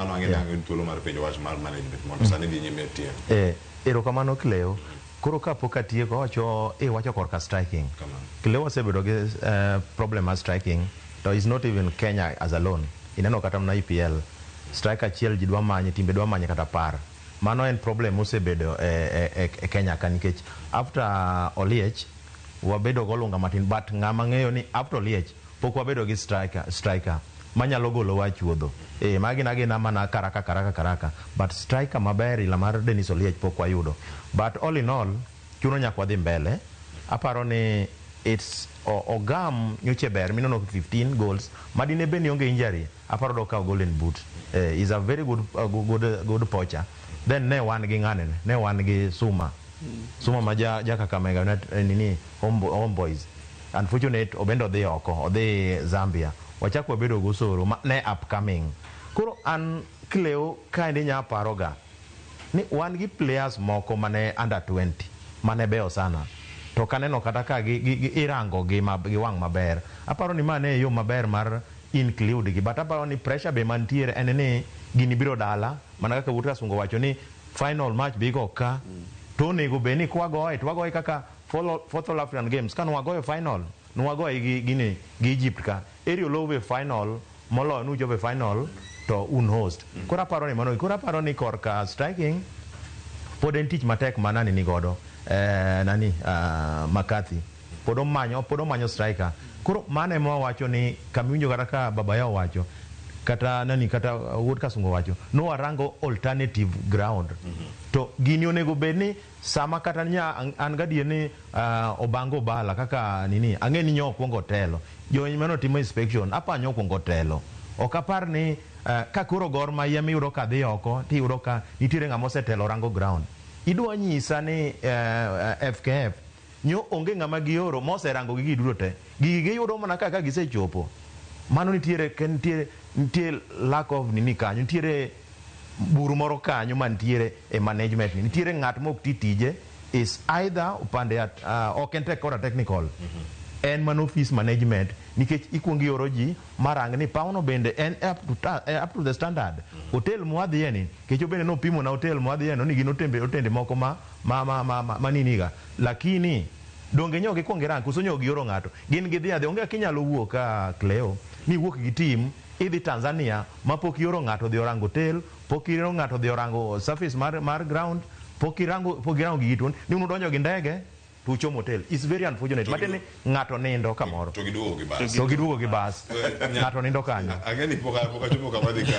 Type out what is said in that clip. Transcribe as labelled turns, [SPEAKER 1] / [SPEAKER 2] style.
[SPEAKER 1] Mano ang'e Yeah. ni thuolo mar penjo wach mar management mondo sani dhi nyime
[SPEAKER 2] tiyo. Eh, erokamano Cleo. Koro kapok atieko awacho eh, wacho korka striking. Kamano. Cleo wasebedo gi eh, problem mar striking to is not even Kenya as alone. Ineno kata mana EPL. Strike achiel ji dwa manye, timbe dwa manye kata par. Mano en problem mosebedo eh, eh, eh, e Kenya ka nikech after Oliech wabedo golunga matin but ng'ama ng'eyo ni after Oliech pok wabedo gi striker, striker manyalo golowa e chuodho. Ee, magi gin agina mana karaka karaka karaka but striker maber ila mar Dennis Oliech pok wayudo. But all in all, chuno nyaka wadhi mbele. Aparo ni it's Ogam nyocha e ber minono 15 goals ma dine bed ni onge injury aparo dokawo golden boot. Ee, is a very good, uh, good, good poacher. Then ne wan gi ng'ane ne? Ne wan gi Suma. Suma ma ja, ja Kakamega United, eh, nini, Home, Home Boys. Unfortunate obende odhi oko odhi Zambia wachak wabedo gosoro ma ne upcoming koro an kleo kaendi nya paro ga ni wan gi players moko mane under twenty mane beyo sana to ok aneno kata ka gi gi gi irango gi ma gi wang' maber aparo ni ma ne e yo maber mar include gi but aparo ni pressure be mantiere en ni gini biro dala mana kaka wuod Kasungo owacho ni final match be igo ka to onego be ni kwa goye to wagoye kaka Fourth All African Games kane wagoyo final ne wagoye gi gini gi Egypt ka eri olowu e final moloyo ne uchopo e final to un host. Koro aparo ni mano koro aparo ni korka striking pod en tich matek ma nani ni godo eh, nani ah, McCarthy pod omanyo pod omanyo striker. Koro mano ema wawacho ni kamiwinjo kata ka baba yao wacho kata nani kata uh, wuod kasungo wacho no warango alternative ground to gini onego bed ni Sama kata nya an gadier ni uh, obanga obala kaka nini ang'e ni nyo okwongo telo jony mano timo inspection apa nyo okwongo telo ok apar ni uh, ka koro gor ma yem iyudo ka dhi oko ti iyudo ka nitiere ng'ama osetelo rango ground idwa nyisa ni uh, eh, FKF nyo onge ng'ama gioro moserango gigi duto te gigi giyudo mana kaka gisechopo mano nitiere nitiere nitiere lack of nini kanyo nitiere bur moro kanyo mantiere e management ni nitiere ng'at ma ok ti tije is either opande at, uh, ok en tek kora technical mm -hmm. en man office management nikech ikuongo ioro ji marang ni pawno bende en up to, ta, eh, up to the standard mm -hmm. hotel mwadhiye ni kecho bende nopimo na hotel mwadhiye no ni gin otembe otende moko ma ma ma, ma, ma, ma niniga lakini donge nyo gikwongo irang koso nyo gioro ng'ato gin gidhi adhi onge kinyalo wuok ka ah, Cleo ni wuok gi tim Idhi Tanzania ma pok ioro ng'ato odhi orango tel, pok ioro ng'ato odhi orango surface mar mar ground, pok irango pok irango gigi to ni un udonjo gi ndege to uchomo hotel. It's very unfortunate. To Matiende gidu- ni ng'ato nindo kamoro to giduogo gi
[SPEAKER 1] bas. to giduogo
[SPEAKER 2] gi bas.
[SPEAKER 1] Eh, nya- Ng'ato
[SPEAKER 2] nindo kanyo.
[SPEAKER 1] Ang'e ni pok
[SPEAKER 2] a- pok achopo
[SPEAKER 1] kama dhi ka.